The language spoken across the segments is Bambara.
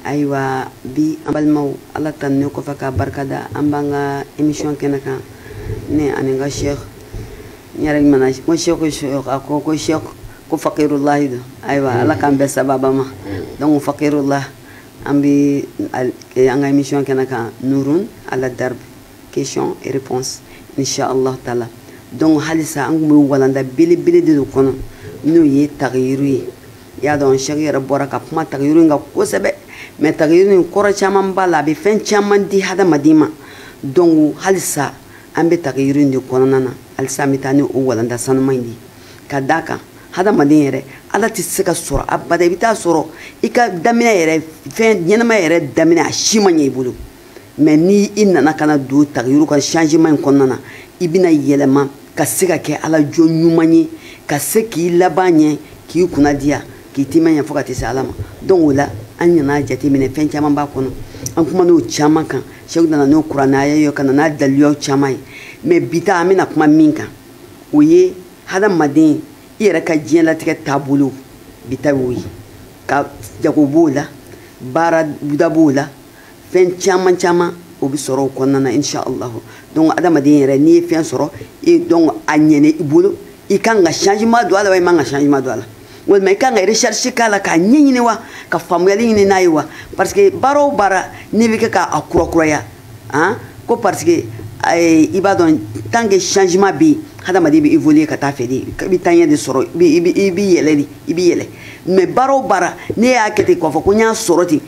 ayiwa bi an balimaw ala tanune kɔfɛ k'a barika da an b'an ka émission kɛnɛ kan ne ani n ka sheikh n yɛrɛ ɲumana n ko sheikh sheikh a ko ko sheikh ko fakirulahi don ayiwa ala k'an bɛn sababa ma donc fakirullah an bi an ka émission kɛnɛ kan nurun ala darbe question et réponse inchallah taala donc halisa an kun bɛ walanda belebele de dɔ kɔnɔ n'o ye tagiyiru ye i y'a dɔn sheikh yɛrɛ bɔra ka kuma tagiyiru in kan kosɛbɛ mais tagiyiru in kɔrɔ caman b'a la a bɛ fɛn caman di hadamaden ma donc halisa an bɛ tagiyiru in de kɔnɔna na halisa an bɛ taa ni o walanda sanuma in de ye ka d'a kan hadamaden yɛrɛ ala tɛ se ka sɔrɔ abada i bɛ t'a sɔrɔ i ka daminɛ yɛrɛ fɛn ɲɛnama yɛrɛ daminɛ a si ma ɲɛ i bolo mais ni i nana ka na don tagiyiru ka changement in kɔnɔna na i bɛna yɛlɛma ka se ka kɛ ala jɔn ɲuman ye ka se k'i laban ɲɛ k'i kunna diya k'i timan ɲɛ fo ka t'i se ala ma donc o la an nana jateminɛ fɛn caman b'a kɔnɔ an kuman'o caman kan sheikh nana n'o kurana aya ye ka na n'a daliluyaw caman ye mais bi ta an bɛna kuma min kan o ye hadamaden i yɛrɛ ka diɲɛlatigɛ taabolo bi ta y'o ye i ka jago b'o la baara da b'o la fɛn caman caman o bɛ sɔrɔ o kɔnɔna na inshallahu donc hadamaden yɛrɛ n'i ye fɛn sɔrɔ e donc a ɲɛna i bolo i kan ka changement don a la wa i man ka changement don a la walima i kan ka recherche k'a la k'a ɲɛɲini wa ka faamuyali ɲini n'a ye wa parce que baara o baara n'i b'a kɛ k'a kurakuraya han ko parce que eh, i b'a dɔn tant que changement bɛ yen hadamaden bɛ évoluer ka taa fɛ de i bɛ taaɲɛ de sɔrɔ i bɛ yɛlɛ de i bɛ yɛlɛ mais baara o baara ne y'a kɛ ten k'a fɔ ko n y'a sɔrɔ ten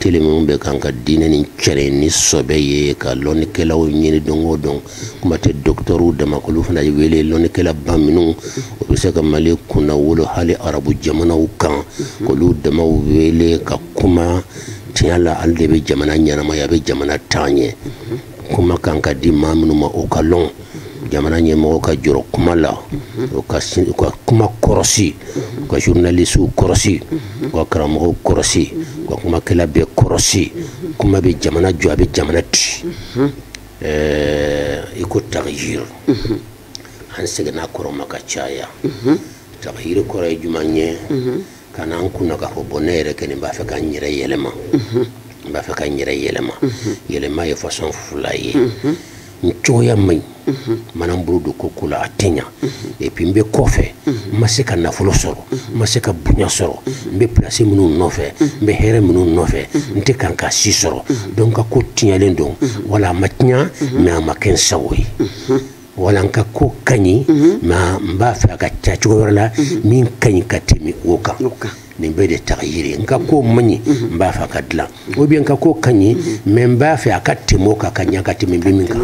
tele minnu bɛ kan ka diinɛ nashiri ni sɔbɛ ye ka lɔnnikɛlaw ɲini don o don kuma tɛ dɔkitɔrɔw dama k'olu fana wele lɔnnikɛlaba minnu u bɛ se ka mali kunna wolo hali arabu jamanaw kan k'olu damaw wele ka kuma tiɲɛ la ale de bɛ jamana ɲɛnamaya a bɛ jamana taa ɲɛ kuma kan ka di maa minnu ma o ka lɔn jamana ɲɛmɔgɔw ka jɔrɔ kuma la u ka kuma kɔrɔsi u ka journalistew kɔrɔsi u ka karamɔgɔw kɔrɔsi u ka kumakɛla bɛɛ kɔrɔsi kuma bɛ jamana jɔ a bɛ jamana ci i ko tagiyir an seginna a kɔrɔ ma ka caya tagiyir kɔrɔ ye jumɛn ye ka na an kunna k'a fɔ bon ne yɛrɛ kɔni b'a fɛ ka n yɛrɛ yɛlɛma n b'a fɛ ka n yɛrɛ yɛlɛma yɛlɛma ye façon fila ye n cogoya man ɲi n mana n bolo don ko o ko la a tɛ ɲa et puis n bɛ kɔfɛ n ma se ka nafolo sɔrɔ n ma se ka bonya sɔrɔ n bɛ pilasi minnu nɔfɛ n bɛ hɛrɛ minnu nɔfɛ n tɛ kan ka si sɔrɔ donc a ko tiɲɛlen don wala a ma tiɲa mais a ma kɛ n sago ye wala n ka ko ka ɲi mhm. mɛ n b'a fɛ a ka kɛ cogo wɛrɛ la mhm. min ka ɲi ka tɛmɛ o kan nin bɛɛ de tagiyiri n ka ko man ɲi mhm. n b'a fɛ a ka dilan ou bien n ka ko ka ɲi mɛ n b'a fɛ a ka tɛmɛ o kan ka ɲa ka tɛmɛ n bɛ min kan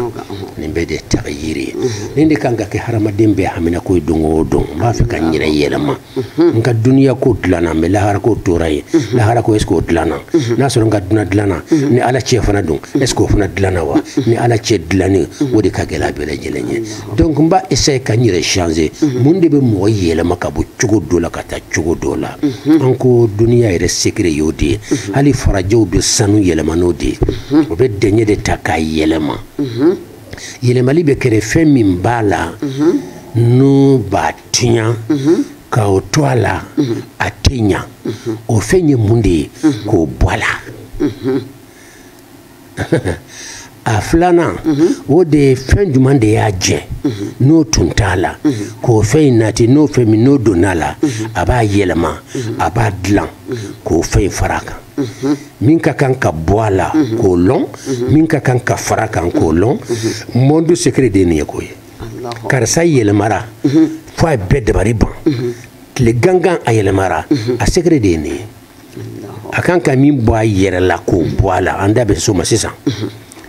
nin bɛɛ de tagiyiri ye nin de kan ka kɛ hadamaden bɛɛ haminako ye don o don n b'a fɛ ka n yɛrɛ yɛlɛma n ka duniya ko dilanna mɛ lahara ko tora yen lahara ko est ce que o dilanna n'a sɔrɔ n ka duna dilanna ni ala cɛ fana don est ce que o fana dilanna wa ni ala cɛ dilanni o de ka gɛlɛ a bɛɛ lajɛlen ye donc n b'a essayer ka n yɛrɛ changer mun de bɛ mɔgɔ yɛlɛma ka bɔ cogo dɔ la ka taa cogo dɔ la an ko duniya yɛrɛ secret y'o de ye hali farajɛw bɛ sanu yɛlɛma n'o de ye o bɛ dɛɲɛ de ta k'a yɛlɛma yɛlɛmali bɛ kɛ di fɛn min b'a la n'o b'a tiɲa ka o to a la a tɛ ɲa o fɛn ye mun de ye k'o bɔ a la a filanan o de ye fɛn jumɛn de y'a jɛ n'o tun t'a la k'o fɛn in nati n'o fɛn min n'o donna a la a b'a yɛlɛma a b'a dilan k'o fɛn in fara a kan min ka kan ka bɔ a la k'o lɔn min ka kan ka fara a kan k'o lɔn monde secret de ye nin ye k'o ye karisa yɛlɛmara mhm. fo a ye bɛɛ dabari ban mhm. tile gangan a yɛlɛmara mhm. a secret de ye nin ye a kan ka min bɔ a yɛrɛ la k'o bɔ a la an da bɛ s'o ma sisan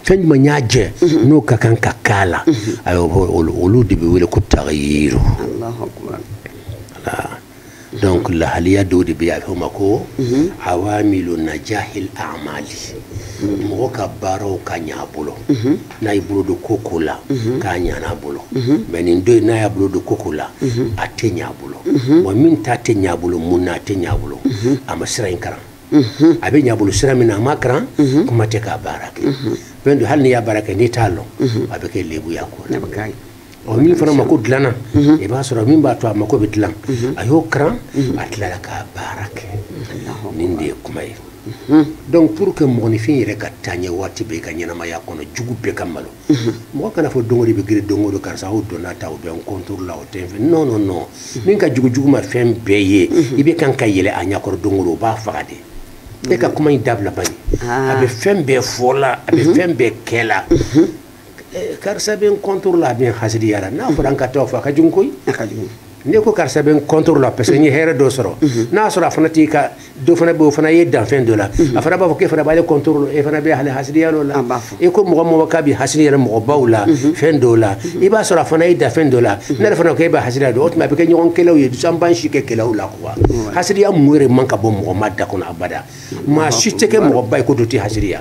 fɛn jumɛn y'a jɛ n'o ka kan ka k'a la ayiwa olu de bɛ wele ko tagiyiru donc lahaliya dɔw de bɛ yen a bɛ fɔ o ma ko awamilu najahil amali mɔgɔ ka baaraw ka ɲa a bolo n'a y'i bolo don ko o ko la k'a ɲana a bolo mɛ nin don in n'a y'a bolo don ko o ko la a tɛ ɲa a bolo wa min ta tɛ ɲa a bolo mun na a tɛ ɲa a bolo a ma sira in kalan a bɛ ɲa a bolo sira min na a ma kalan kuma tɛ k'a baara kɛ fɛn don hali n'i y'a baara kɛ n'i t'a lɔn a bɛ kɛ lebu y'a ko la ɔ min fana mako dilanna i b'a sɔrɔ min b'a to a mako bɛ dilan a y'o karan a tilala k'a baara kɛ nin de ye kuma ye donc pour que mɔgɔninfin yɛrɛ ka taa ɲɛ waati bɛɛ i ka ɲɛnamaya kɔnɔ jugu bɛɛ ka malo mɔgɔ kana fɔ don o don i bɛ girin don o don karisa o donna ta o bɛ n contre la o tɛ n fɛ non non non min ka jugu jugu ma fɛn bɛɛ ye i bɛ kan ka yɛlɛn a ɲɛkɔrɔ don o don o b'a faga de e ka kuma in dabila bani a bɛ fɛn bɛɛ fɔ la a bɛ fɛn bɛɛ kɛ la eh, karisa bɛ n contre la a bɛ n hasidiya la n'a fɔra an ka taa o fɔ a ka jugu koyi a ka jugu ne ko karisa bɛ n contre la parce que n ye hɛrɛ dɔ sɔrɔ mhm. n'a sɔrɔ a fana t'i ka dɔ fana bɛ o fana ye danfɛn dɔ la mhm. a fana b'a fɔ k'e fana b'ale contre la e fana bɛ ale hasidiya dɔ la e ko mɔgɔ mɔgɔ k'a bɛ hasidiya yɛrɛ mɔgɔbaw la mhm. fɛn dɔw la i b'a sɔrɔ a fana ye danfɛn dɔ la ne yɛrɛ fana ko e bɛ hasidiya dɔ o tuma a bɛ kɛ ɲɔgɔn kɛlɛw ye donc an b'an si kɛ kɛlɛw la quoi hasidiya mun yɛrɛ man kan ka bɔ mɔgɔba da kɔnɔ abada maa si tɛ kɛ mɔgɔba ye ko dɔ tɛ hasidiya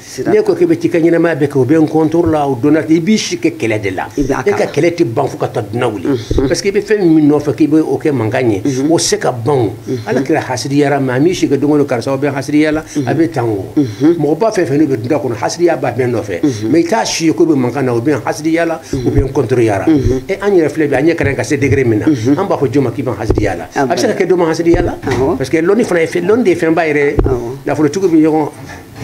ne ko k'i bɛ t'i ka ɲɛnamaya bɛɛ kɛ o bɛ n contre la o donna i b'i si kɛ kɛlɛ de la e ka kɛlɛ tɛ ban fo ka taa dunan wuli mm-hmm. parce que i bɛ fɛn min nɔfɛ k'i bɛ o kɛ mankan ye mm-hmm. o se ka ban o mm-hmm. ala kɛra hasidiya ra mais a m'i si kɛ don o don karisa o bɛ hasidiya la a bɛ tan o mɔgɔba fɛn fɛn n'o bɛ dunan kɔnɔ hasidiya b'a bɛɛ nɔfɛ mais i t'a si ye k'o bɛ mankan na o bɛ hasidiya la o bɛ n contreya ra e an yɛrɛ filɛ bi an ɲɛ kɛra ka se degré min na an b'a fɔ jɔn ma k'i bɛ hasidiya la a bɛ se ka kɛ dɔ ma hasidiya la parce que lɔnni fana ye fɛn lɔnni de ye fɛnba yɛrɛ nafolotigiw bɛ ɲɔgɔn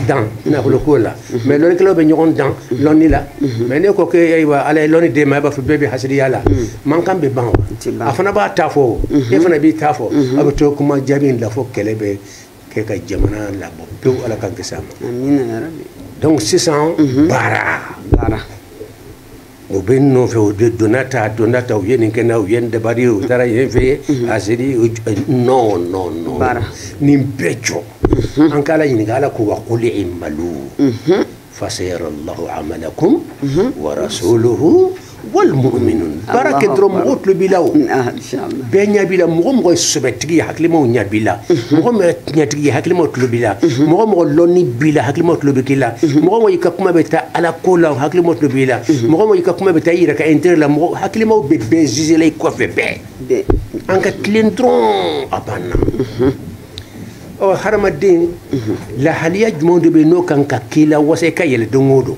dan nafoloko la mais lɔnnikɛlaw bɛ ɲɔgɔn dan lɔnni la mais ne ko ke ayiwa ala ye lɔnni d'e ma i b'a fɔ bɛɛ bɛ hasiriya la mankan bɛ ban wa a fana b'a ta fɔ e fana b'i ta fɔ a bɛ to kuma jaabi in la fo kɛlɛ bɛ kɛ ka jamana labɔ pewu ala k'an kisi a ma donc sisan baara baara o bɛ n nɔfɛ o de donna ta donna ta u ye nin kɛ n na u ye nin dabari u taara yen fɛ mhm. hasiri non non non nin bɛɛ jɔ mhm. an k'ala ɲininka ala ko wa quli i'malu mhm. fasayara llahu amalakum wa rasuluhu wal mu'minun baara kɛ dɔrɔn mɔgɔw tulo b'i la o bɛɛ ɲɛ b'i la mɔgɔ mɔgɔ ye sɛbɛtigi ye hakilimaw ɲɛ b'i la mɔgɔ mɔgɔ ye tiɲɛtigi ye hakilimaw tulo b'i la mɔgɔ mɔgɔ lɔnni b'i la hakilimaw tulo bɛ k'i la mɔgɔ mɔgɔ i ka kuma bɛ taa ala ko la hakilimaw tulo b'i la mɔgɔ mɔgɔ i ka kuma bɛ taa i yɛrɛ ka intérêt la mɔgɔ hakilimaw bɛ bɛɛ juger la i kɔfɛ bɛɛ an ka tilen dɔrɔn a banna ɔ hadamaden lahaliya jumɛn de bɛ yen n'o kan ka k'i lawasa i ka yɛlɛ don o don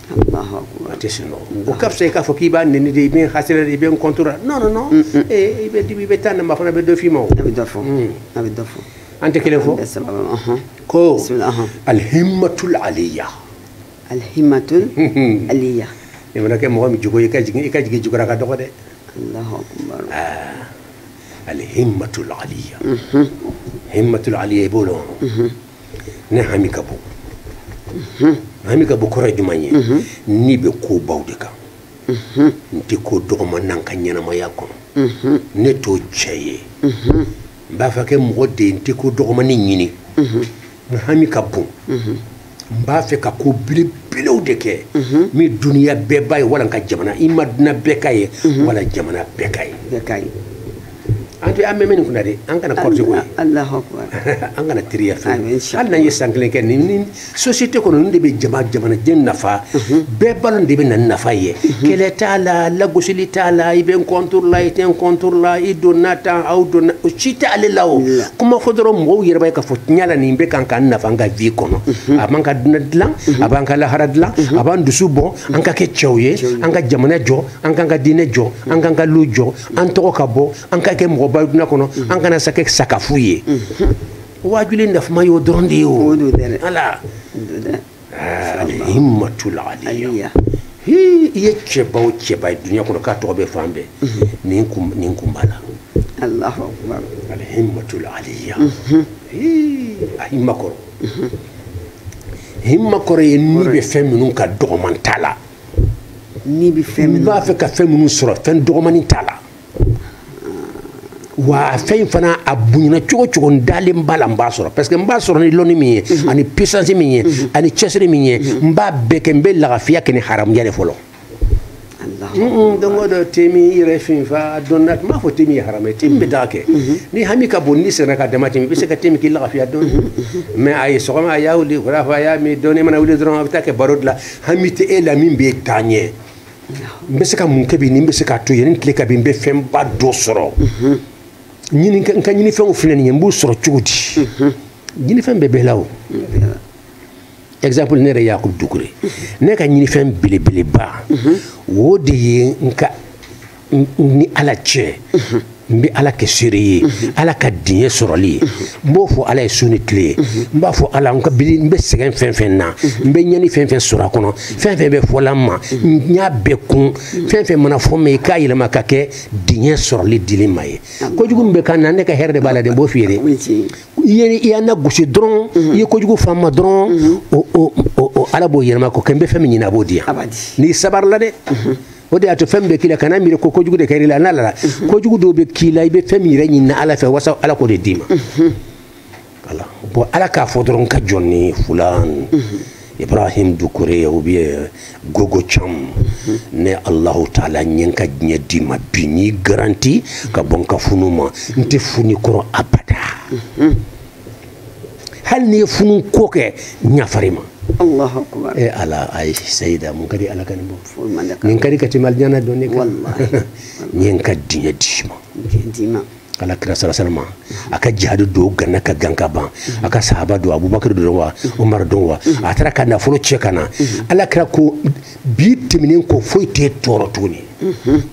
a tɛ sunɔgɔ o ka fisa i k'a fɔ k'i b'a nɛni de i bɛ n hasira de i bɛ n contre la non non non mm, mm. Eh, i bɛ dibi i bɛ taa naba fana bɛ dɔ f'i ma o a bɛ dɔ fɔ mm. a bɛ dɔ fɔ an tɛ kelen fɔ ko alhimatul aliya alhimatul aliya i mana kɛ mɔgɔ min jogo ye i ka jigin i ka jigin jugura ka dɔgɔ dɛ alahu akubar ah. alhimatul aliya himmatul aliya i b'o dɔn ne hami ka bon hami ka bon kɔrɔ ye jumɛn ye ne bɛ kobaw de kan n tɛ ko dɔgɔman na n ka ɲɛnamaya kɔnɔ ne t'o cɛ ye n b'a fɛ ka kɛ mɔgɔ de ye n tɛ ko dɔgɔmani ɲini n hami ka bon n b'a fɛ ka ko belebelew de kɛ min duniya bɛɛ b'a ye wala n ka jamana i ma duna bɛɛ k'a ye wala jamana bɛɛ k'a ye an tɛ an bɛ min kunna dɛ an kana kɔrɔtɔ ko ye an kana teriya fɛ hali n'an ye san kelen kɛ nin ni société kɔnɔ nin de bɛ jama jamanaden nafa mhm. bɛɛ balo de bɛ na ni nafa ye mhm. kɛlɛ t'a la lagosili t'a la i bɛ n contre la i tɛ n contre la i donna tan aw donna o si tɛ ale la o kuma fɔ dɔrɔn mɔgɔw yɛrɛ b'a ye k'a fɔ tiɲɛ la nin bɛ kan k'an nafa an ka vie kɔnɔ mhm. a b'an ka dunan dilan a b'an ka lahara dilan a b'an dusu bɔ an ka kɛ cɛw ye an ka jamana jɔ an k'an ka diinɛ jɔ an k'an ka lu jɔ an tɔgɔ ka bɔ an ka kɛ mɔgɔba ye dunia kɔnɔ an kana sa kɛ sakafu ye waajuli nafama y'o dɔrɔn de ye o alihimatula aliya i ye cɛba o cɛba ye dunia kɔnɔ k'a tɔgɔ bɛ fan bɛɛ nin kun b'a la alahu akbar alihimatula aliya a hima kɔrɔ hima kɔrɔ ye n'i bɛ fɛn minnu kan dɔgɔman t'a la n'i bɛ fɛn min b'a fɛ ka fɛn minnu sɔrɔ fɛn dɔgɔmani t'a la wa fɛn in fana a bonyana cogo cogo n dalen b'a la n b'a sɔrɔ parce que n b'a sɔrɔ ni lɔnni min ye mhm. ani puissance min ye mhm. ani cɛsiri min ye mhm. n b'a bɛɛ kɛ n bɛ lagafiya kɛ ni haramuya de fɔlɔ donc dɔ temin i yɛrɛ finfa dɔnna n m'a fɔ temin ye haramu ye temin bɛ taa kɛ ni hami ka bon ni sɛgɛn ka dama tɛmɛ i bɛ se ka te min k'i lagafiya dɔɔni mais a ye sɔgɔma a y'a wuli wulafɛ a y'a min dɔɔni mana wuli dɔrɔn a bɛ taa kɛ baro de la hami tɛ e la min bɛ taa ɲɛ n bɛ se ka mun kɛ bi ni n bɛ se k'a to yanni tile ka bin n bɛ fɛnba dɔ sɔrɔ n ka ɲinifɛnw filɛ nin ye n b'u sɔrɔ cogo di ɲinifɛn bɛ bɛɛ la o exemple ne yɛrɛ yakubu dukure ne ka ɲinifɛn belebeleba o de ye n ka ni ala cɛ n bɛ ala kɛ seere ye ala ka diɲɛ sɔrɔli ye n b'o fɔ ala ye su ni tile ye n b'a fɔ ala n ka bili n bɛ sɛgɛn fɛn fɛn na n bɛ ɲani fɛn fɛn sɔrɔ a kɔnɔ fɛn fɛn bɛ fɔla n ma n y'a bɛɛ kun fɛn fɛn mana fɔ n ma i k'a yɛlɛma ka kɛ diɲɛ sɔrɔli dili ma ye kojugu min bɛ k'an na ne ka hɛrɛ de b'a la dɛ n b'o f'i ye dɛ i ye i y'an nagosi dɔrɔn i ye kojugu f'an ma dɔrɔn o ala b'o yɛlɛma k'o kɛ n bɛ fɛn min ɲini a b'o di yan n'i sabarila dɛ o de y'a to fɛn bɛ k'i la kana miiri ko kojugu de kɛr'i la n'a lara mhm. kojugu dɔw bɛ k'i la i bɛ fɛn min yɛrɛ ɲinina ala fɛ wasa ala k'o de d'i ma mhm. voilà bon ala k'a fɔ dɔrɔn n ka jɔn nin fulan mhm. ibrahim dukure ou bien gogo cham ne allahu taala n ye n ka diɲɛ d'i ma bi n y'i garanti ka bɔ n ka funu ma n tɛ fun'i kɔrɔ abada hali n'i ye funu ko kɛ n yafar'i ma Allahu akbar. e ala ayi sayida mun ka di ala ka nin bɔ Foyi man di ka- nin ka di ka tɛmɛ alijana donni kan Wallahi. n ye n ka diɲɛ d'i ma Diɲɛ d'i ma. ala kira sallallahu alayhi wasallam a ka jihadi dɔ ganna ka gan ka ban a ka sahaba dɔ abubakar don wa umar don wa a taara ka nafolo cɛ ka na ala kira ko bi tɛmɛnen kɔ foyi t'e tɔɔrɔ tuguni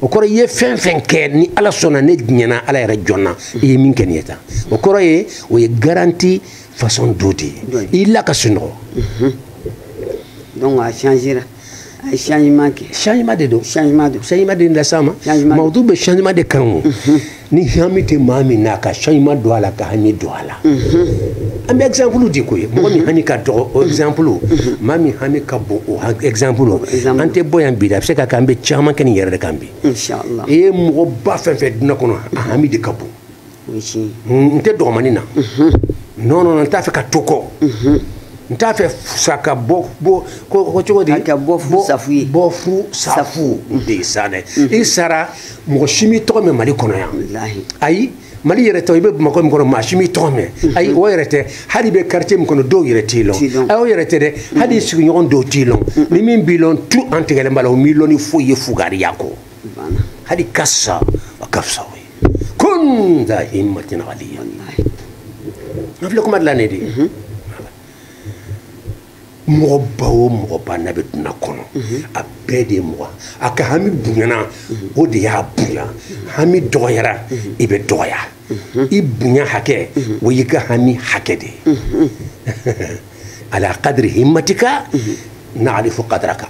o kɔrɔ i ye fɛn fɛn kɛ ne ala sɔnna ne diɲɛna ala yɛrɛ jɛnna i ye min kɛ nin ye tan o kɔrɔ ye o ye garanti façon dɔ de ye i la ka sunɔgɔ donc a changera a ye changement kɛ changement de don changement don changement de las'a ma mawudu bɛ changement de kan o ni hami tɛ maa min na ka changement don a la ka hami don a la an bɛ exemple di ko ye mɔgɔ min hami ka dɔgɔ o exemple maa min hami ka bon o exemple an tɛ bɔ yan bi dɛ a bɛ se ka kɛ an bɛ caman kɛ nin yɛrɛ de kan bi i ye mɔgɔba fɛn fɛn dunya kɔnɔ a hami de ka bon n tɛ dɔgɔmani na non non n t'a fɛ ka to kɔ n t'a fɛ sa ka bɔ bɔ ko cogo di ka bɔ fu sa fu ye bɔ fu sa fu de ye sa dɛ i sara mɔgɔ si m'i tɔgɔ mɛn mali kɔnɔ yan ayi mali yɛrɛ tɛ i bɛ bamakɔ min kɔnɔ maa si m'i tɔgɔ mɛn mhm. ayi o yɛrɛ tɛ hali i bɛ quartier min kɔnɔ dɔw yɛrɛ t'i lɔn ayi o yɛrɛ tɛ dɛ mhm. hali i sigiɲɔgɔn dɔw t'i lɔn mhm. ni min b'i lɔn tout an tigɛlen b'a la o m'i lɔn ni foyi ye fugariya kɔ hali ka sa a ka fisa o ye kun da himmatin aliya n filɛ kuma dilan ne de ye mɔgɔba o mɔgɔba n'a bɛ dunya kɔnɔ a bɛɛ de ye mɔgɔ a ka hami bonyana o de y'a bonya hami dɔgɔyara i bɛ dɔgɔya i bonya hakɛ o y'i ka hami hakɛ de ye ala qadri himmatika na'rifu qadraka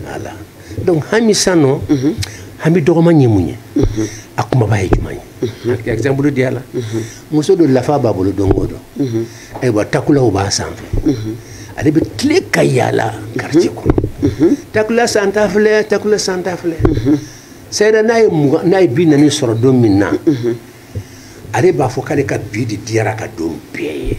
voilà donc hami san nɔ mhm. hami dɔgɔman ye mun ye mhm. a kumaba ye juma ye mhm. exemple di a la muso dɔ lafa b'a bolo don o don ayiwa takulaw b'a sanfɛ ale bɛ tile ka yaala quartier kɔnɔ takula santa filɛ takula santa filɛ sɛyɛrɛ n'a ye mugan n'a ye bi naani sɔrɔ don min na ale b'a fɔ k'ale ka bi de diyara ka don bɛɛ ye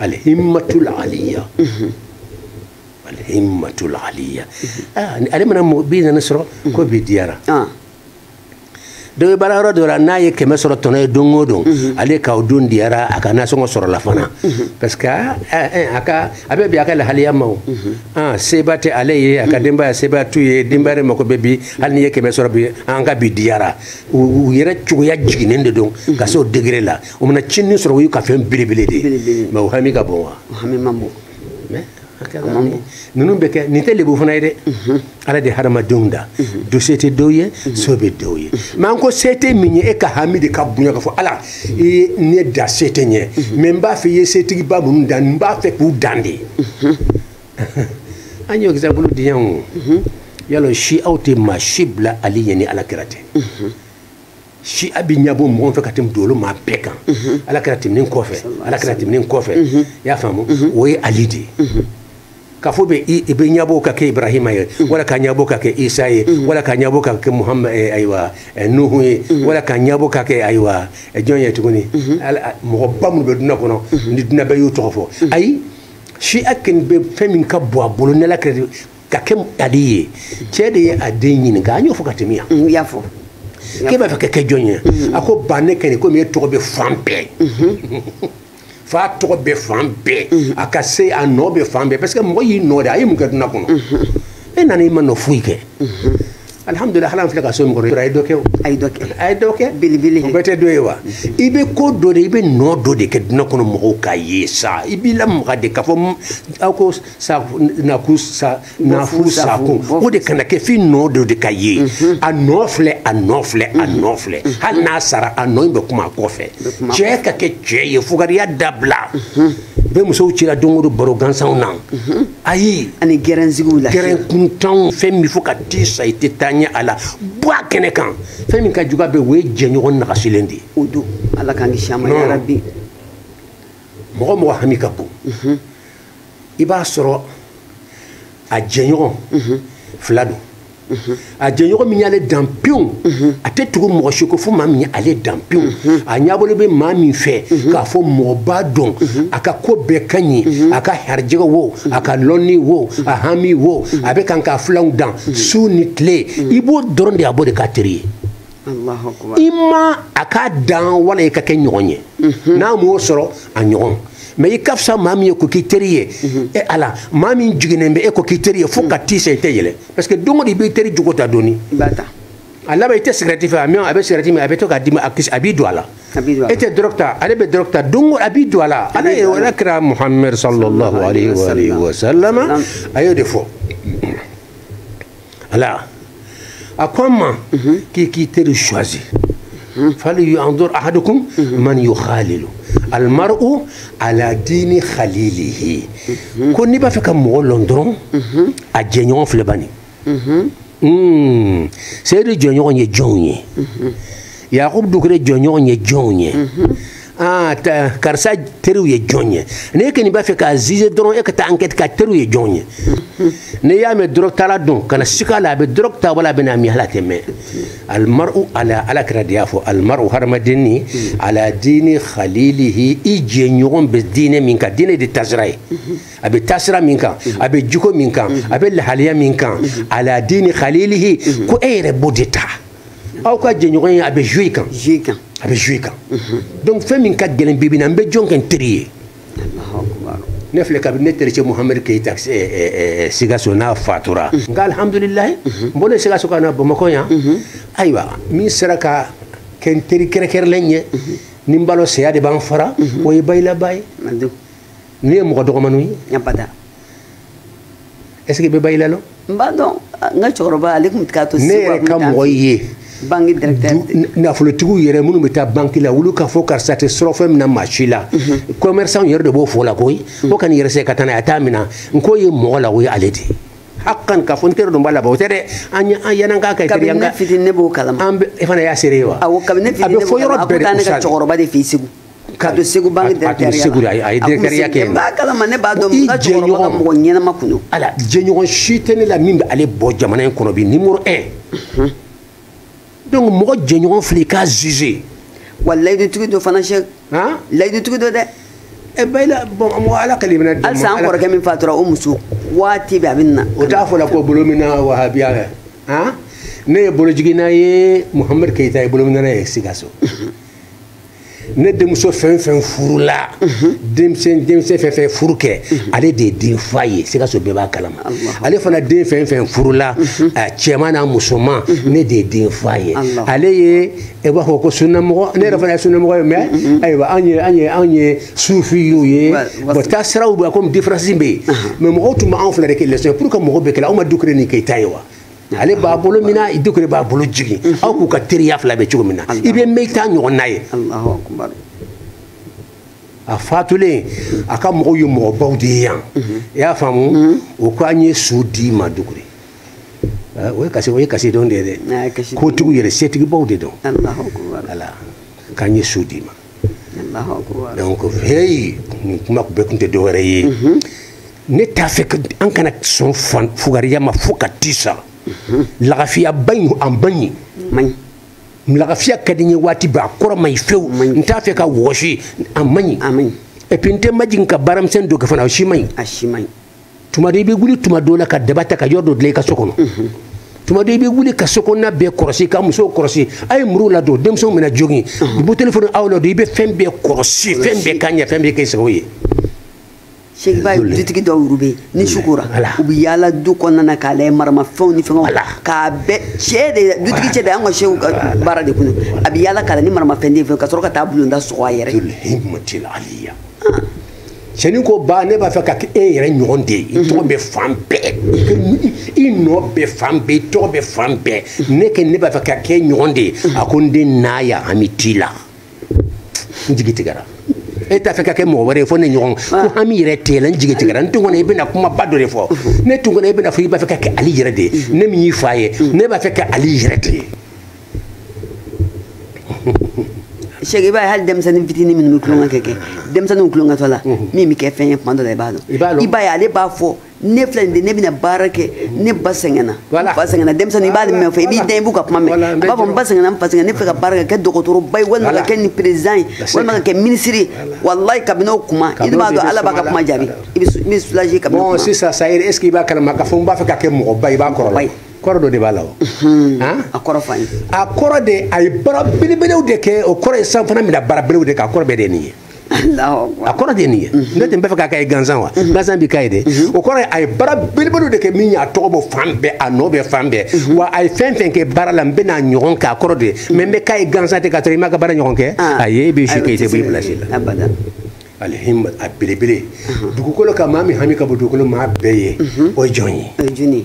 alhimmatul aliya alhimmatul aliya ale mana bi naani sɔrɔ ko bi diyara dɔ bɛ baara yɔrɔ dɔ la n'a ye kɛmɛ sɔrɔ tɔnɔ ye don o don ale k'aw don diyara a ka nasɔngɔ sɔrɔla fana parce que a ka a bɛ bɛn a ka lahaliya ma o seba tɛ ale ye a ka denbaya seba t'u ye denbaya de mako bɛ bi hali n'i ye kɛmɛ sɔrɔ bi an ka bi diyara u yɛrɛ cogoya jiginnen de don ka se o degré la o mana cini sɔrɔ o y'u ka fɛn belebele de ye mais o hami ka bon wa hami man bon ninnu bɛ kɛ nin tɛ lebu fana ye dɛ mhm. ala de hadamadenw da mhm. dɔ se tɛ dɔw ye mhm. se bɛ dɔw ye mais an ko se tɛ min ye e ka hami de ka bonya ka fɔ ala i ye ne da se tɛ n ye mais n b'a fɛ i ye setigiba minnu dan n b'a fɛ k'u dan de an y'o exemple di yan i y'a lɔn shiyaw tɛ maa si bila ali ɲɛ ni ala kira tɛ shiya bɛ ɲɛbɔ mɔgɔw fɛ ka tɛmɛ dugukolo maa bɛɛ kan mhm. ala kira tɛmɛnen kɔfɛ ala kira tɛmɛnen kɔfɛ mhm. i y'a faamu mhm. o ye ali de ye ka fɔ bɛ i bɛ ɲɛbɔ ka kɛ ibrahima ye wala ka ɲɛbɔ ka kɛ isa ye wala ka ɲɛbɔ ka kɛ muhamad eh, ayiwa eh, nuhu ye wala ka ɲɛbɔ ka kɛ ayiwa eh, jɔn ye tuguni mɔgɔba minnu bɛ dunya kɔnɔ ni dunya bɛɛ y'u tɔgɔ fɔ ayi shiya kɛni bɛ fɛn min ka bɔ a bolo n'ala kira ka kɛ ali ye cɛ de ye a den ɲininka an y'o fɔ ka tɛmɛ yan mm, y'a fɔ k'e b'a fɛ ka kɛ jɔn ye mm. a ko ba ne kɛ nin komi e tɔgɔ bɛ fan bɛɛ mm-hmm. fa tɔgɔ bɛ fan bɛɛ mm-hmm. a ka se a nɔ bɛ fan bɛɛ parce que mɔgɔ y'i nɔ de a ye mun kɛ duniya kɔnɔ mm-hmm. e nana i ma nɔ foyi kɛ alhamdulillah halan filɛ ka so min kɔrɔ a ye dɔ kɛ o a ye dɔ kɛ a ye dɔ kɛ belebele o bɛɛ tɛ dɔ ye wa i bɛ ko dɔ de i bɛ nɔ dɔ de kɛ duniya kɔnɔ mɔgɔw k'a ye sa i b'i lamaga de k'a fɔ aw ko nakun sa nafun sakun o de kana kɛ f'i nɔ dɔ de ka ye mhm. a nɔ filɛ a nɔ filɛ a mhm. nɔ filɛ mhm. hali n'a sara a nɔ in bɛ kuma a kɔfɛ cɛ ka kɛ cɛ ye fugariya dabila bɛ musow cira don o don baro gansanw na ayi ani gɛrɛnsigiw la gɛrɛn kuntanw fɛn min fo ka t'i sa i tɛ taa ɲɛ a la bɔ a kɛnɛ kan fɛn min ka jugu a bɛɛ o ye jɛɲɔgɔn nagasilen de ye o don ala k'an kisi a ma yarabi mɔgɔ mɔgɔ hami ka bon i b'a sɔrɔ a jɛɲɔgɔn fila don a jɛɲɔgɔn min y'ale dan pewu a tɛ tugu mɔgɔ si kɔ fo maa min ye ale dan pewu a ɲabolo bɛ maa min fɛ k'a fɔ mɔgɔ b'a dɔn a ka ko bɛɛ ka ɲi a ka harijɛgɛ wo a ka lɔnni wo a hami wo a bɛ kan k'a filanw dan su ni tile i b'o dɔrɔn de a b'o de k'a teri ye imma a k'a dan wala i ka kɛ ɲɔgɔn ye mhm. n'a m'o sɔrɔ a ɲɔgɔn mais i ka fisa maa min ye k'o k'i teri ye mhm. e ala maa min jiginnen bɛ e k'o k'i teri ye fo ka mhm. t'i sa i tɛ yɛlɛ parce que don o don i b'i teri jogo ta dɔɔni a laban i tɛ sigɛrɛti fɛ a mɛ a bɛ sigɛrɛti min a bɛ to k'a d'i ma a kisɛ a b'i don a la e tɛ dɔrɔgu ta ale bɛ dɔrɔgu ta don o a b'i don a la ala ye ala kira muhamɛd sallallahu alayhi wa sallam a y'o de fɔ ala a ko an ma k'i k'i teri choisi falyanzur ahadukum man yukhalilu almar'u ala dini khalilihi ko n'i b'a fɛ ka mɔgɔ lɔn dɔrɔn a jɛɲɔgɔn filɛ bani seyidu jɛɲɔgɔn ye jɔnw ye yakubu dukure jɛɲɔgɔn ye jɔnw ye ah karisa teriw ye jɔn ye n'e kɔni b'a fɛ k'a zize dɔrɔn e ka taa ankɛti k'a teriw ye jɔn ye n'i y'a mɛn dɔrɔgutala don kana sika a la a bɛ dɔrɔgu ta wala a bɛna min ala tɛ mɛɛn almar'u ala ala kira de y'a fɔ almar'u hadamaden in ala diini khalilihi i jɛɲɔgɔn bɛ diinɛ min kan diinɛ de tasira ye a bɛ tasira min kan a bɛ jiko min kan a bɛ lahaliya min kan ala diini khalilihi ko e yɛrɛ b'o de ta aw ka jɛɲɔgɔn ye a bɛ joue kan joue kan a bɛ joue kan donc fɛn min ka gɛlɛn bi bi na n bɛ jɔn kɛ n teri ye ne filɛ kabini ne tericɛ muhamadu keyita sigaso na a fatura nka alhamdulilayi n bɔlen sigaso ka na bamakɔ yan ayiwa min sera ka kɛ n teri kɛrɛkɛrɛlen ye ni n balo saya de b'an fara o ye bayila ba ye ne ye mɔgɔ dɔgɔmaniw ye est ce que i bɛ bayila lɔn n b'a dɔn n ka cɛkɔrɔba ale tun bɛ taa to ne yɛrɛ ka mɔgɔ ye banki directeur nafolotigiw yɛrɛ minnu bɛ taa banki la olu k'a fɔ karisa tɛ surɔfɛn mina maa si la commerçant yɛrɛ de b'o fɔ la koyi ko kan'i yɛrɛ sɛgɛn ka taa n'a ye a t'a minɛ n k'o ye mɔgɔ la o ye ale de ye hakan k'a fɔ n teri dun b'a labɔ o tɛ dɛ an ye an yɛlɛn k'a kɛ teri an ka fitini ne b'o kalama an bɛ e fana y'a seere ye wa awɔ kabini ne fitini ne b'o kalama a ko taa ne ka cɛkɔrɔba de fɛ yen segu ka don segu banque directɛriya kɛ b'a kalama ne b'a dɔn n ka cɛkɔrɔba ka mɔgɔ ɲɛnama kun don ala jɛɲɔgɔn si tɛ ne la min bɛ ale bɔ jamana in kɔnɔ bi numéro 1 donc mɔgɔ jɛɲɔgɔn filɛ i k'a juge wa layidutigi don fana cɛ layidutigi don dɛ e bayila bon mɔgɔ ala ka limina dɛmɛ halisa an kɔrɔkɛ min fatura o muso waati bɛ a bɛ na o t'a fɔ la ko bolominɛna wahabiya kɛ han ne ye bolojiginna ye muhamadu keyita ye bolominɛna ye sikaso ne denmuso fɛn fɛn furula denmisɛn denmisɛn fɛn fɛn furu kɛ ale de ye den fa ye sikaso bɛɛ b'a kalama ale fana den fɛn fɛn furula cɛman n'a musoman ne de ye den fa ye ale ye e b'a fɔ ko sunnamɔgɔ ne yɛrɛ fana ye sunnamɔgɔ ye mais ayiwa anw ye anw ye anw ye sufiw ye bon taasiraw bɛ comme différence bɛ yen mais mɔgɔw tun bɛ anw fila de kɛ leçon ye pour que mɔgɔ bɛɛ k'a lajɛ aw ma dukure ni keyita ye wa ale b'a bolo mina i dukure b'a bolo jigin aw k'u ka teriya filɛ a bɛ cogo min na i bɛ mɛɛn i t'a ɲɔgɔnna ye a fatulen a ka mɔgɔw ye mɔgɔbaw de ye yan i y'a faamu o ko an ye su di i ma dukure o ye kasi o ye kasi don de ye dɛ kotigiw yɛrɛ setigibaw de don ala k'an ye su di i ma donc heyi nin kuma bɛɛ tun tɛ dɔwɛrɛ ye ne t'a fɛ an kana sɔn fugariya ma fo ka ti sa lagafiya ba in an ba ɲi man ɲi lagafiya ka di n ye waati bɛɛ a kɔrɔ man ɲi fewu n t'a fɛ ka wɔsi a man ɲi et puis n tɛ majigin ka baaramisɛn dɔ kɛ fana o si man ɲi a si man ɲi tuma dɔ i bɛ wuli tuma dɔ la ka daba ta ka yɔrɔ dɔ dilan i ka so kɔnɔ tuma dɔ i bɛ wuli ka so kɔnɔna bɛɛ kɔrɔsi ka musow kɔrɔsi a ye muru ladon denmisɛnw bɛna jogin buteli fana aw ladon i bɛ fɛn bɛɛ kɔrɔsi fɛn bɛɛ ka ɲɛ fɛn bɛɛ kɛ i sago ye cheikh baye dutigi dɔw olu bɛ ni mm. su kora u bɛ yaala du kɔnɔna na k'a lajɛ maramafɛnw ni fɛnw k'a bɛɛ cɛ de dutigi cɛ de an ka sehu ka baara de kun a bɛ yaala k'a lajɛ ni maramafɛn tɛ yen fɛn ka sɔrɔ ka taa bulonda sɔgɔ a yɛrɛ ye himmatil aliya cɛnin ko ba ne b'a fɛ ka kɛ e yɛrɛ ɲɔgɔn de ye i tɔgɔ bɛ fan bɛɛ i nɔ bɛ fan bɛɛ i tɔgɔ bɛ fan bɛɛ ne kɛ ne b'a fɛ ka kɛ i ɲɔgɔn de ye a ko n den n y'a ye hami t'i la n jigi tigɛra e t'a fɛ ka kɛ mɔgɔ wɛrɛ ye fo ne ɲɔgɔn ko hami yɛrɛ t'i la n jigi tigɛra n tun kɔnɔ i bɛna kumaba dɔ de fɔ ne tun kɔnɔ i bɛna fɔ i b'a fɛ ka kɛ ali yɛrɛ de ye ne min y'i fa ye ne b'a fɛ ka ali yɛrɛ de ye cheikh baye hali denmisɛnnin fitinin minnu bɛ tulonkɛ kɛ denmisɛnninw tulonkɛtɔ la min bɛ kɛ fɛn ye tuma dɔ la i b'a dɔn i b'a ye ale b'a fɔ ne filɛ nin de ne bɛna baara kɛ ne ba sɛgɛnna ba sɛgɛnna denmisɛnnin i b'ale mɛn fɔ i b'i den i b'u ka kuma mɛn a b'a fɔ n ba sɛgɛnna n fa sɛgɛnna ne fɛ ka baara kɛ kɛ dɔgɔtɔrɔba ye walima ka kɛ nin perezidan ye walima ka kɛ minisiri ye walayi kabini o kuma i b'a dɔn ala b'a ka kuma jaabi i bɛ soulagé kabini o kuma. sisan sa est ce que i b'a kalama k'a fɔ n b'a fɛ ka kɛ mɔgɔba ye i b'a kɔrɔla kɔrɔ dɔ de b'a la o a kɔrɔ fa ye a kɔrɔ de a ye baara belebelew de kɛ o kɔrɔ ye sa an fana bɛna baara belebelew de k'a kɔrɔ bɛɛ de ye nin ye a kɔrɔ de ye nin ye ne tun b'a fɛ ka k'a ye gansan wa gansan bɛ k'a ye dɛ o kɔrɔ ye a ye baara belebelew de kɛ min y'a tɔgɔ bɔ fan bɛɛ a nɔ bɛ fan bɛɛ wa a ye fɛn fɛn kɛ baara la n bɛn'a ɲɔgɔn kɛ a kɔrɔ de ye mais n bɛ k'a ye gansan tɛ ka sɔrɔ i m'a ka baara ɲɔgɔn kɛ ayi i bɛ si kɛ i tɛ bɔ i place la abada al himma a belebele dugukolo kan maa min hami ka bon dugukolo maa bɛɛ ye o ye jɔn ye o ye jɔn ye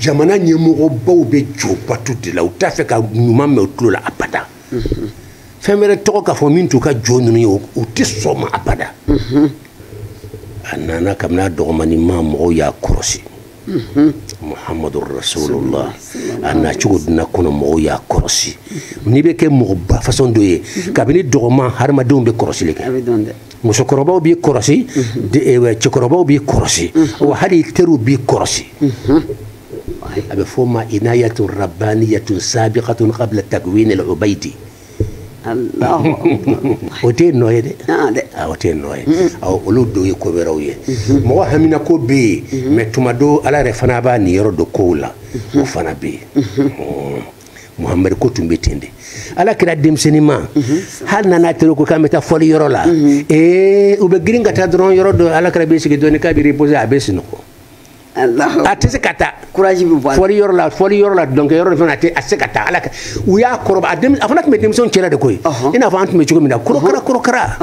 jamana ɲɛmɔgɔbaw bɛ jo bato de la u t'a fɛ ka ɲuman mɛn u tulo la abada fɛn wɛrɛ tɔgɔ ka fɔ min t'u ka jo ninnu ye u tɛ sɔn a ma abada a nana kabini a dɔgɔmani ma mɔgɔw y'a kɔrɔsi muhamadu rasulullah a nacogo duniya kɔnɔ mɔgɔw y'a kɔrɔsi n'i bɛ kɛ mɔgɔba fasɔn dɔ ye kabini dɔgɔma hadamadenw bɛ kɔrɔsili kɛ musokɔrɔbaw b'i kɔrɔsi eh, cɛkɔrɔbaw b'i kɔrɔsi wa hali i teriw b'i kɔrɔsi a bɛ f'o ma inayatu rabbaniyatun sabiqatun qabla takwin al ubaydi o tɛ ninnu ye dɛ o tɛ ninnu ye olu dun ye ko wɛrɛw ye mɔgɔ haminanko bɛ yen mais tuma dɔ ala yɛrɛ fana b'a niyɔrɔ don kow la o fana bɛ yen muhamadu ko tun bɛ ten de ala kira denmisɛnnin ma hali n'a n'a teriw ko k'an bɛ taa fɔli yɔrɔ la ee u bɛ girin ka taa dɔrɔn yɔrɔ dɔ ala kira b'i sigi dɔɔni k'a bɛ reposer a bɛ sunɔgɔ a tɛ se ka taa fɔli yɔrɔ la fɔli yɔrɔ la dɔnkɛ yɔrɔ fana a tɛ se ka taa ala u y'a kɔrɔbɔ a fana tun bɛ denmisɛnw cɛla de koyi i n'a fɔ an tun bɛ cogo min na korokara korokara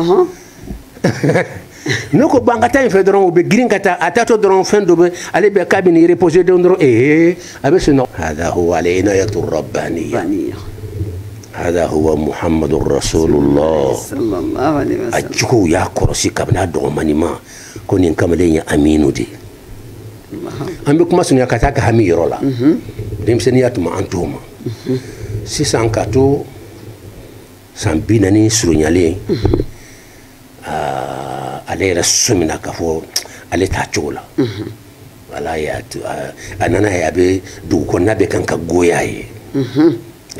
ne ko ban ka taa in fɛ dɔrɔn u bɛ girin ka taa a taatɔ dɔrɔn fɛn dɔ bɛ ale bɛ k'a bɛ nin reposer don dɔrɔn ee a bɛ sunɔgɔ. hada huwa al inayatu rabbaniya hada huwa muhammadu rasulullah a juguw y'a kɔrɔsi kabini a dɔgɔmani ma ko nin kamalen ye aminu de ye an bɛ kuma surunya ka taa a ka hami yɔrɔ la denmisɛnninya tuma an t'o ma sisan ka to. san binaani surunyalen ale yɛrɛ sɔmina k'a fɔ ale t'a cogo la wala y'a to a nana ye a bɛ dugu kɔnɔna bɛ kan ka goya a ye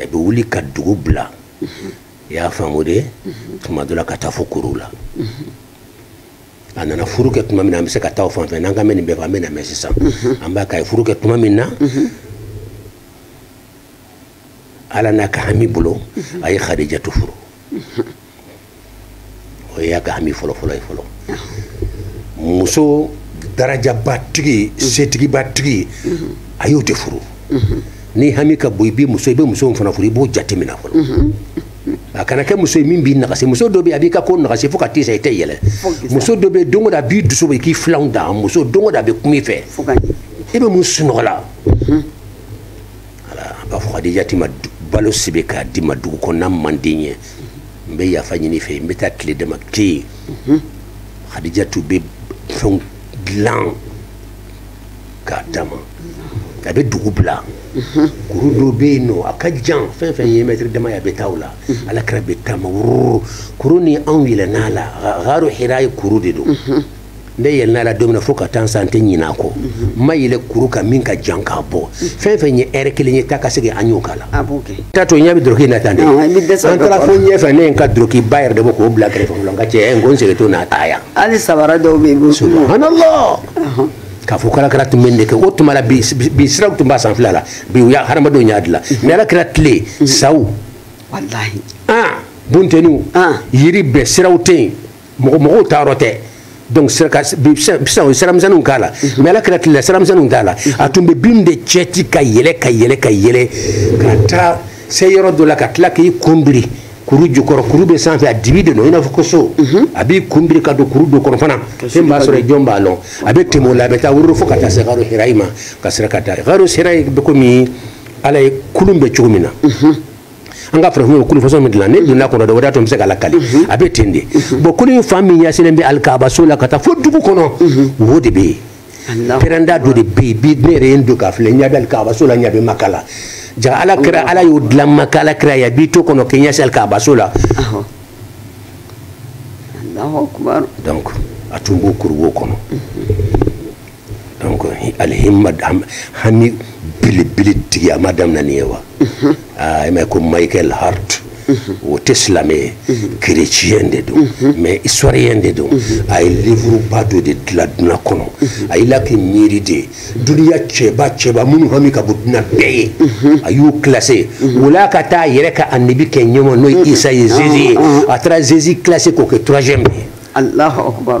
a bɛ wuli ka dugu bila i y'a faamu de tuma dɔ la ka taa fo kuruw la a nana furu kɛ tuma min na an bɛ se ka taa o fan fɛ n'an k'an bɛ nin bɛɛ fɔ an bɛna mɛɛn sisan an b'a k'a ye furu kɛ tuma min na ala n'a ka hami bolo a ye khadijatu furu o y'a ka hami fɔlɔfɔlɔ ye fɔlɔ muso darajaba tigi setigiba tigi a y'o de furu ni hami ka bon i bɛ muso i bɛ muso fana furu i b'o jateminɛ fɔlɔ a kana kɛ muso ye min b'i nagasi muso dɔ bɛ yen a b'i ka ko nagasi fo ka t'i sa i tɛ yɛlɛ muso dɔ bɛ yen don o don a b'i dusu bɔ i k'i filanw da muso don o don a bɛ kuma i fɛ i bɛ mun sunɔgɔ la a b'a fɔ kadijatu ma balo sebe k'a di n ma dugu kɔnɔna man di n ye n bɛ yafa ɲini i fɛ n bɛ taa tile dama kɛ yen kadijatu bɛ fɛnw dilan k'a d'a ma a bɛ dugu bila kuru dɔ bɛ yen nɔ a ka jan fɛn fɛn ye mɛtiri dama ye a bɛ taa o la ala kira bɛ taama wururu kuru nin anw yɛlɛnna a la garo hira ye kuru de don ne yɛlɛnna a la don min na fo ka taa sa n tɛ ɲinɛ a kɔ n ma yɛlɛ kuru kan min ka jan k'a bɔ fɛn fɛn ye ɛrɛ kelen ye taa ka segin an y'o k'a la taatɔ ne bɛ doroki na tan dɛ an taara fo ɲɛfɛ ne ye n ka dorokiba yɛrɛ de bɔ k'o bila kɛrɛfɛ fɔlɔ n ka cɛ n ko n segintɔ n'a ta yan hali sabara dɔw bɛ yen ko subhanallah k'a fɔ k'ala kira tun bɛ nin de kɛ o tuma la bi siraw tun b'a sanfɛla la bi u y'a hadamadenw y'a dilan mais ala kira tile saw walahi bunteniw yiri bɛɛ siraw tɛ yen mɔgɔ mɔgɔw taayɔrɔ tɛ donc sisan u ye siramisɛnninw k'a la mhm. mais ala kira tile la siramisɛnninw t'a la mhm. a tun bɛ bin de cɛti ka yɛlɛ ka yɛlɛ ka yɛlɛ ka taa se yɔrɔ dɔ la ka tila k'i kun biri kuru jukɔrɔ kuru bɛ sanfɛ a dibi de don i n'a fɔ ko so mhm. a b'i kun biri ka don kuru dɔ kɔnɔ fana fɛn b'a sɔrɔ jɔn b'a lɔn a bɛ tɛmɛ o la a bɛ taa wururu fo ka taa se garo hirayi ma ka sira ka taa garo hirayi bɛ komi ala ye kulun bɛ cogo min na an ka farafin kulu façon min dilan ne donna a kɔnɔ dɛ o de y'a to n bɛ se k'a lakali mhm. a bɛ ten de mhm. bon kulu in fan min ɲɛsinnen bɛ alikabaso la ka taa fo dugu kɔnɔ mhm. wo de bɛ yen pɛrɛnda dɔ de bɛ yen bi ne yɛrɛ ye n don k'a filɛ n ɲɛ bɛ alikabaso la n ɲɛ bɛ maka la jaa ala kira ala y'o dilan maka ala kira ye a b'i to a kɔnɔ k'i ɲɛsin alikabaso la donc a tun b'o kuru wo kɔnɔ donc alihima hami belebele tigi a ma daminɛ nin ye wa aa i m'a ye ko michael hart o tɛ silamɛ ye kereciyɛn de don mais historien de don a ye livuruba dɔ de dilan duniya kɔnɔ a y'i la k'i miiri de duniya cɛba cɛba minnu hami ka bon duniya bɛɛ ye a y'u kilase o la ka taa a yɛrɛ ka anabi kɛ ɲɛmɔ n'o ye isa ye zezi ye a taara zezi kilase k'o kɛ troisième ye alahu akubar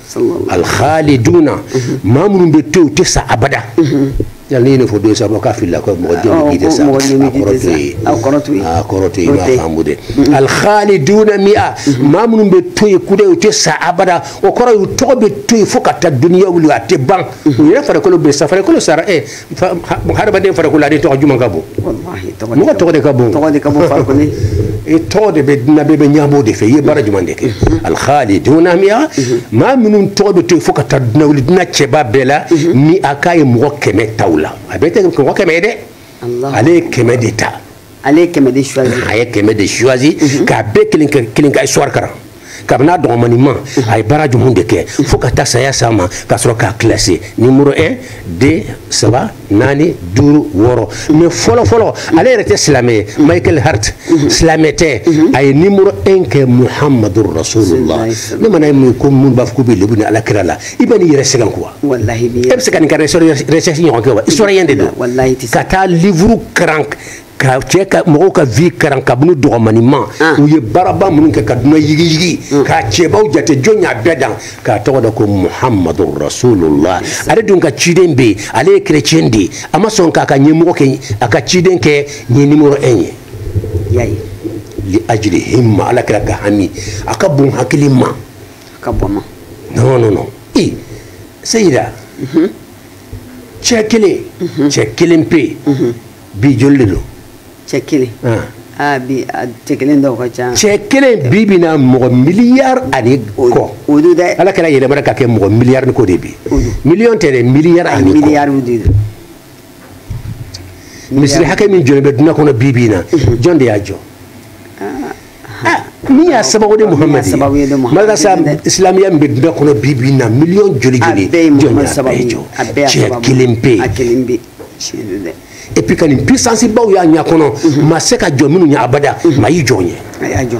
alhaliduna maa minnu bɛ to yen u tɛ sa abada yali n'i ye nin fɔ don saba k'a filila ko mɔgɔ jɔn bɛ yen tɛ sa mɔgɔ jɔn bɛ yen tɛ sa a kɔrɔ t'o ye a kɔrɔ t'o ye i m'a faamu dɛ alhaliduna miya maa minnu bɛ to yen kudayi u tɛ sa abada o kɔrɔ ye u tɔgɔ bɛ to yen fo ka taa duniya wuli a tɛ ban u yɛrɛ farikolo bɛ sa farikolo sara ɛ hadamaden farikolo ale tɔgɔ jumɛn ka bon mɔgɔ tɔgɔ de ka bon tɔgɔ de ka bon farikolo i tɔgɔ de bɛ dunan bɛɛ bɛ ɲabɔ de fɛ i ye baara jumɛn de kɛ al khaliduna mi'a maa minnu tɔgɔ bɛ to yen fo ka taa dunan wuli dunan cɛba bɛɛ la mi'a k'a ye mɔgɔ kɛmɛ ta u la a bɛɛ tɛ mɔgɔ kɛmɛ ye dɛ ale ye kɛmɛ de ta ale ye kɛmɛ de choisi a ye kɛmɛ de choisi k'a bɛɛ kelen kelen ka histoire karan kabini a dɔgɔmani ma a ye baara jumɛn de kɛ fo ka taa saya s'a ma ka sɔrɔ k'a classé nimoro 1 2 saba naani duuru wɔɔrɔ mais fɔlɔ fɔlɔ ale yɛrɛ tɛ silamɛ ye michael hart silamɛ tɛ a ye nimoro 1 kɛ muhamadu rasulullah ne mana ye mun ko minnu b'a fɔ k'u bɛ lebu ni ala kira la i bɛn'i yɛrɛ sɛgɛn quoi e bɛ se ka nin ka recherche ɲɔgɔn kɛ wa historien de don ka taa livre karan ka cɛ ka mɔgɔw ka vie karan kabini dɔgɔmani ma ah. u ye baaraba minnu kɛ ka duna yigiyigi mm. k'a cɛbaw jate jɔn y'a bɛɛ dan k'a tɔgɔ da ko muhamadu rasulula ale dun ka ciden bɛ yen ale ye kerecɛn de ye a ma sɔn k'a ka ɲɛmɔgɔ kɛ a ka ciden kɛ ɲɛ nimoro 1 ye yani li ajli himma ala kira ka hami a ka bon hakili ma ka bɔ ma non non non i seyida mhm. cɛ kelen mhm. cɛ kelen pe yen mhm. bi joli de don cɛ kelen ah. Ah, bi ah, cɛ kelen dɔw ka ca cɛ kelen bi bi na mɔgɔ miliyari ani kɔ o don dɛ ala kira yɛlɛmana ka kɛ mɔgɔ miliyari ni kɔ de bi miliyɔn tɛ dɛ miliyari ani kɔ miliyari de don misiri hakɛ min jɔlen bɛ dunan kɔnɔ bi bi in na jɔn de y'a jɔ min y'a sababu de muhamadu ye madarasa islamiya min bɛ dunan kɔnɔ bi bi in na miliyɔn joli joli jɔn y'a bɛɛ jɔ cɛ kelen pe ye et puis ka nin puissance baw y'a ɲɛ kɔnɔ ma se ka jɔ minnu ɲɛ abada ma y'i jɔ ɲɛ